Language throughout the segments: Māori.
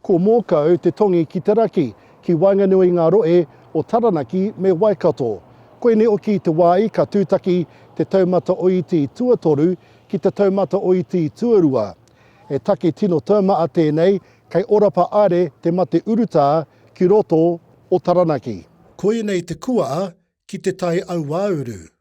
Ko Mōkau te tongi ki te raki, ki waenganui i ngā rohe o Taranaki me Waikato. Koinei oki te wāi ka tūtaki te taumata oiti tuatoru ki te taumata oiti tuarua. He take tino taumaa tēnei, kei Orapa are te mate urutā ki roto o Taranaki. Koinei te kuaa ki te tai auauru.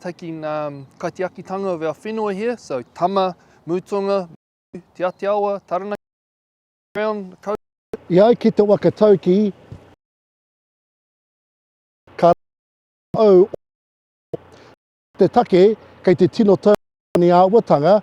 taking um, kaitiakitanga of our whenua here, so Tama, Mutonga, Te Atiawa, Taranaki, around the coast. I ai ki te waka tauki, ka au te take kei te tino tau ni āwatanga,